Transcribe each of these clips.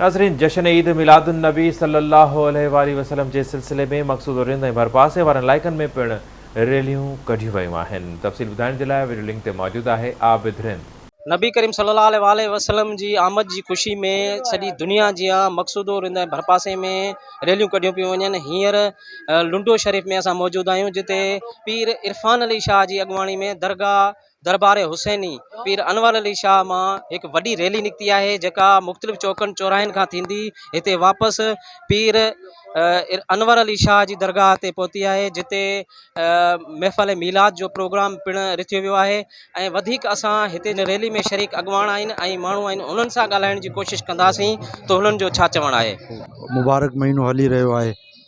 ناظرين جشن عيد ميلاد النبي صلي الله عليه واٰله وسلم جي سلسلي ۾ مقصود رند ۽ ڀرپاسي وارن علائقن ۾ پڻ ريليون ڪڍيون ويون آهن تفصيل ٻڌائڻ جي لاء وڊيو لنڪ تي موجود آهي عابد رند. نبي ڪريم صلي الله عليه واٰله وسلم جي آمد جي خوشي ۾ سڄي دنيا جيان مقصود رند ۽ ڀرپاسي ۾ ريليون ڪڍيون پيون وڃن هينئر لنڊو شريف ۾ اسان موجود آهيون جتي پير عرفان علي شاهه جي اڳواڻي ۾ درگاهه دربار حسيني پير انور علي شاهه مان هڪ وڏي ريلي نڪتي آهي جيڪا مختلف چوڪن چوراهن کان ٿيندي هتي واپس پير انور علي شاهه جي درگاهه تي پهتي آهي جتي محفل ميلاد جو پروگرام پڻ رٿيو ويو آهي ۽ وڌيڪ اسان هتي جي ريلي ۾ شريڪ اڳواڻ آهن ۽ ماڻهو آهن انهن سان ڳالهائڻ جي ڪوشش ڪنداسين ته انهن جو ڇا چوڻ آهي مبارڪ مهينو هلي رهيو آهي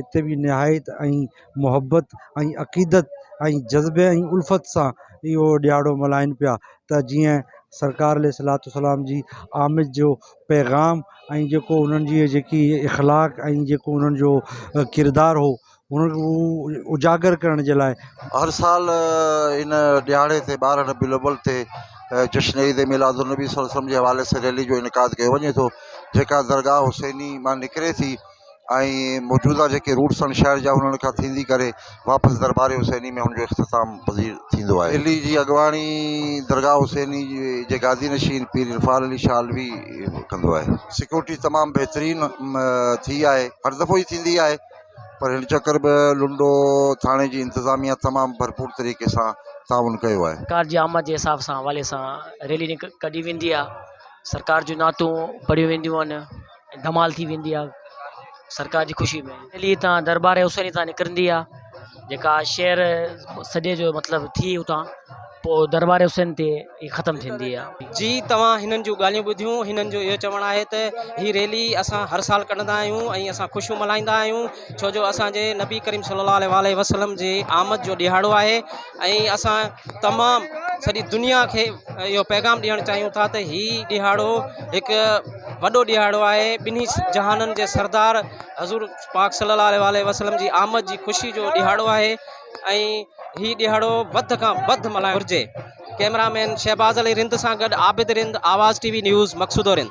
هتي به نهايت ۽ محبت ۽ عقيدت ۽ جذبي ۽ الفت سان اهو ڏهاڙو ملهائين پيا ته جيئن سرڪار عليه الصلوة والسلام جي آمد جو پيغام ۽ جيڪو انهن جي جيڪي اخلاق ۽ جيڪو انهن جو ڪردار هو ان کي هو اجاگر ڪرڻ جي لاء هر سال ان ڏهاڙي تي ٻارهن ربيع الاول تي جشن عيد ميلاد النبي صلي الله عليه وسلم جي حوالي سان ريلي جو انعقاد ڪيو وڃي ٿو جيڪا درگاهه حسيني مان نڪري ٿي ۽ موجوده جيڪي روٽس آهن شهر جا انهن کان ٿيندي ڪري واپس دربار حسيني ۾ هن جو اختتام پذير ٿيندو آهي. علي جي اڳواڻي درگاهه حسيني جي گادي نشين پير عرفان علي شاهه علوي ڪندو آهي. سيڪيورٽي تمام بهترين ٿي آهي هر دفعو هي ٿيندي آهي پر هن چڪر به لنڊو ٿاڻي جي انتظاميا تمام ڀرپور طريقي سان تعاون ڪيو آهي. سرڪار جي آمد جي حساب سان حوالي سان ريلي ڪڍي ويندي آهي سرڪار جون نعتون پڙهيون وينديون آهن. ڌمال ٿي ويندي آ سرڪار جي خوشي ۾ دلي تان دربار حسين تان نڪرندي آ جيڪا شهر سڄي جو مطلب ٿي اتان پوء دربار حسين تي هي ختم ٿيندي آ. جي توهان هنن جون ڳالهيون ٻڌيون هنن جو اهو چوڻ آهي ته هي ريلي اسان هر سال ڪڍندا آهيون ۽ اسان خوشيون ملهائيندا آهيون ڇو جو اسان جي نبي ڪريم صلي الله عليه واٰله وسلم جي آمد جو ڏهاڙو آهي ۽ اسان تمام سڄي دنيا کي اهو پيغام ڏيڻ چاهيون ٿا ته هي ڏهاڙو هڪ وڏو ڏهاڙو آهي ٻنهي جهانن جي سردار حضور پاڪ صلي الله عليه وآله وسلم جي آمد جي خوشي جو ڏهاڙو آهي ۽ هي ڏهاڙو وڌ کان وڌ ملهائڻ گهرجي ڪئميرا مين شهباز علي رند سان گڏ عابد رند آواز ٽي وي نيوز مقصودو رند